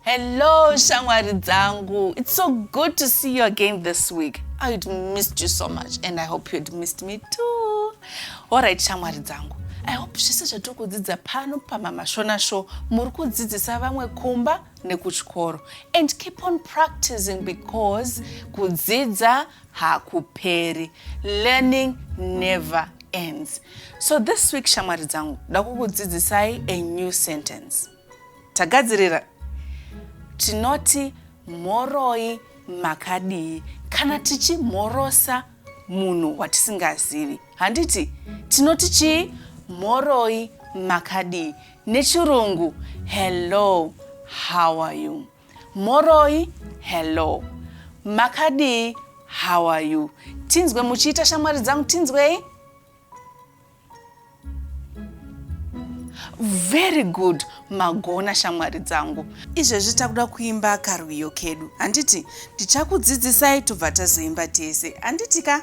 Hello, Shangwari Zangu. It's so good to see you again this week. I had missed you so much and I hope you had missed me too. All right, Shangwari Zangu. I hope zvese zvatiri kudzidza pano pamama shona show muri kudzidzisa vamwe kumba nekuchikoro and keep on practicing because kudzidza hakuperi learning never ends so this week shamwari dzangu dakukudzidzisai a new sentence tagadzirira tinoti mhoroi makadii kana tichimhorosa munhu watisingazivi handiti tinoti chii mhoroi makadii nechirungu hello how are you Mhoroi Hello Makadii How are you Tinzwe muchiita shamwari dzangu tinzwei Very good magona shamwari dzangu izvezvi takuda kuimba karwiyo kedu handiti ndichakudzidzisai tobva tazoimba tese handiti ka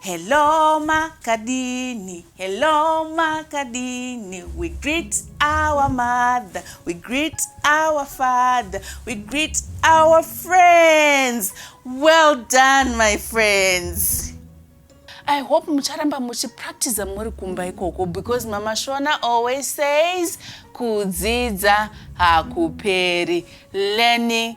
Hello makadini, hello makadini, we greet our mother, we greet our father, we greet our friends. Well done my friends. I hope mucharamba muchipractiza muri kumba ikoko because Mama Shona always says kudzidza hakuperi. Learning